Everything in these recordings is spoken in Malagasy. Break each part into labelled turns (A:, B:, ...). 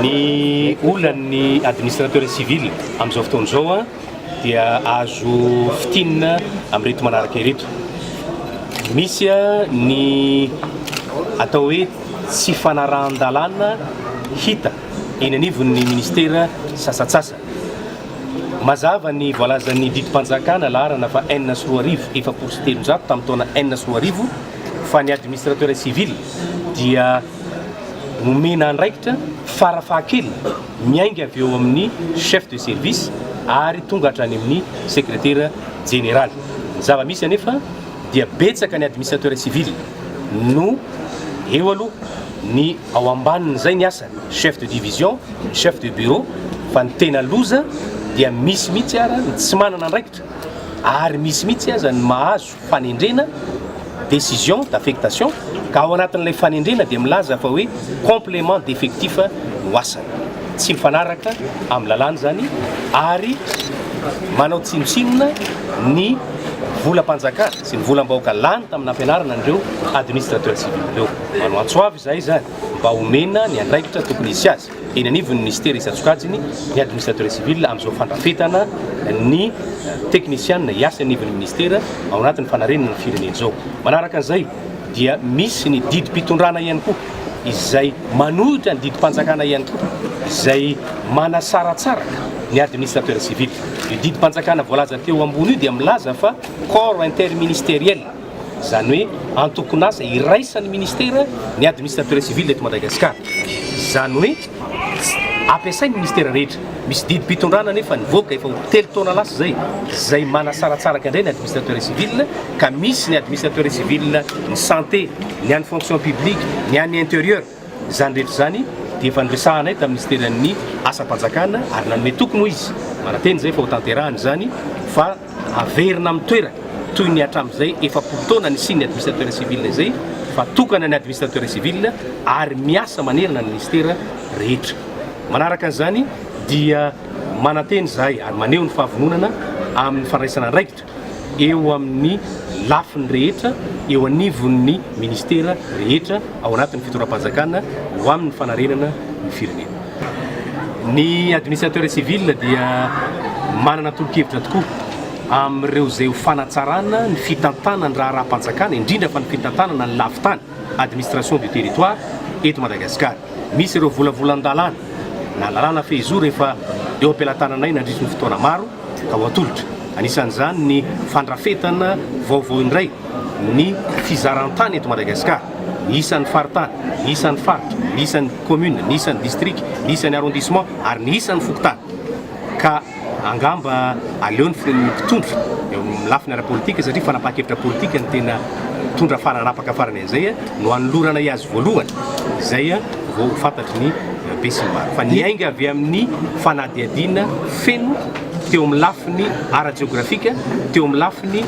A: Ny olan'ny administrateur civil amin'izao fotoana izao dia azo fitinina amin'ireto manaraka ireto. Misy ny atao hoe tsy fanarahan-dalàna hita eny anivon'ny ministera sasantsasany. Mazava ny voalazan'ny didim-panjakana laharana faha enina sy roa arivo, efapolo sy telonjato tamin'ny taona enina sy roa arivo fa ny Administrateur Civil dia nomena andraikitra fara fahakeliny miainga avy eo amin'ny Chef de Service ary tonga hatrany amin'ny Sekretera Jeneraly. Ny zava-misy anefa dia betsaka ny Administrateur Civil no eo aloha ny ao ambanin'izay ny asany. chef de division, chef de bureau fa ny tena loza dia misy mihitsy ara ny tsy manana andraikitra ary misy mihitsy aza ny mahazo fanendrena décision d'affectation ka ao anatin'ilay fanendrena dia milaza fa hoe complément d'effectif no asany tsy mifanaraka amin'ny lalàna izany ary manao tsinontsinona ny volam-panjakana sy ny volam-bahoaka lany tamin'ny nampianarana an'ireo administrateur civil ireo manao antsoavy izahay izany mba omena ny andraikitra tokony hisy azy eny anivon'ny minisitera isan-tsokajiny ny administrateur civil amin'izao fandrafetana ny teknisianina hiasa eny anivon'ny minisitera ao anatin'ny fanarenana ny firenena izao. Manaraka an'izay dia misy ny didim-pitondrana ihany koa izay manohitra ny didim-panjakana ihany koa izay manasaratsaraka ny administrateur civil. Io didim-panjakana voalaza teo ambony io dia milaza fa corps interministériel izany hoe antokon'asa iraisan'ny ministera ny administrateur civil eto Madagasikara, izany hoe tsy ampiasain'ny ministera rehetra, misy didim-pitondrana anefa nivoaka efa ho telo taona lasa izay, izay manasaratsaraka indray ny administrateur civil ka misy ny administrateur civil ny santé, ny an'ny fonction publique, ny an'ny interieur. Izany rehetra izany dia efa noresahanay tamin'ny Minisiteran'ny Asam-panjakana ary nanome toky moa izy, manantena izay fa hotanterahana izany fa haverina amin'ny toerany toy ny hatramin'izay efapolo taona nisian'ny Administrateur Civil izay fa tokana ny Administrateur Civil ary miasa manerana ny Minisitera rehetra. Manaraka an'izany dia manantena izahay ary maneho ny fahavononana amin'ny fandraisana andraikitra. eo amin'ny lafiny rehetra eo anivon'ny ministera rehetra ao anatin'ny fitondram-panjakana ho amin'ny fanarenana ny firenena. Ny administrateur civil dia manana tolo-kevitra tokoa amin'ireo izay ho fanatsarana ny fitantanan'ny raharaham-panjakana, indrindra fa ny fitantanana ny lafin-tany. administration du territoire eto Madagasikara. Misy ireo volavolan-dalàna na lalàna fehizoro efa eo am-pelatananay nandritry ny fotoana maro ka ho atolotra. Anisan'izany ny fandrafetana vaovao indray ny fizaran-tany eto Madagasikara, ny isan'ny faritany, ny isan'ny faritra, ny isan'ny commune, ny isan'ny district, ny isan'ny arrondissement ary ny isan'ny fokontany ka. Angamba aleo ny firen'ny mpitondra eo amin'ny lafiny ara-politika satria fanapahan-kevitra politika no tena mitondra faranapaka farany an'izay no hanolorana iazy voalohany izay vao ho fantatry ny be sy ny maro fa niainga avy amin'ny fanadihadiana feno teo amin'ny lafiny ara-jeografika teo amin'ny lafiny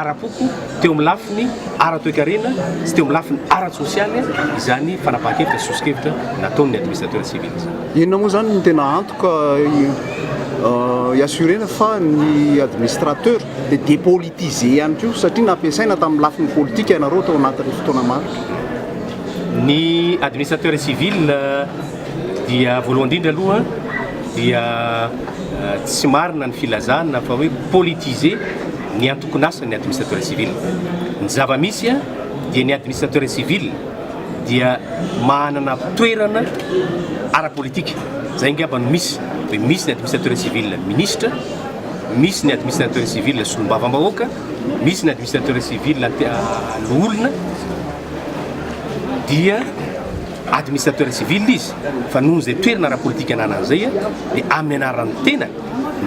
A: ara-poko teo amin'ny lafiny ara-toekarena sy teo amin'ny lafiny ara-tsosialy izany fanapahan-kevitra sy soso-kevitra nataon'ny administrateur civil Inona moa izany no
B: tena antoka hi-assurer-na fa ny administrateur dia depolitiser ihany koa satria nampiasaina tamin'ny lafiny politika ianareo tao anatin'ny fotoana maro? Ny
A: administrateur civil dia voalohany indrindra aloha dia tsy marina ny filazana fa hoe politiser ny antokon'asany ny administrateur civil. Ny zava-misy dia ny administrateur civil dia manana toerana ara-politika. Izay angamba no misy. Dia misy ny administrateur civil ministra, misy ny administrateur civil solombavambahoaka, misy ny administrateur civil loholona, dia administrateur civil izy fa noho izay toerana ara-politika ananany izay dia amin'ny anaran'ny tena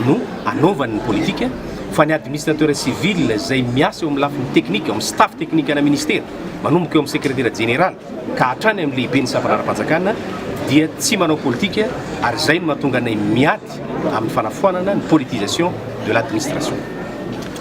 A: no anaovany ny politika fa ny administrateur civil izay miasa eo amin'ny lafiny teknika, eo amin'ny staff teknikanà ministera, manomboka eo amin'ny sekretera jeneraly ka hatrany amin'ny lehiben'ny sampanara-panjakana dia tsy manao politika ary izay no mahatonga anay miady amin'ny fanafoanana ny politisation de l'administration.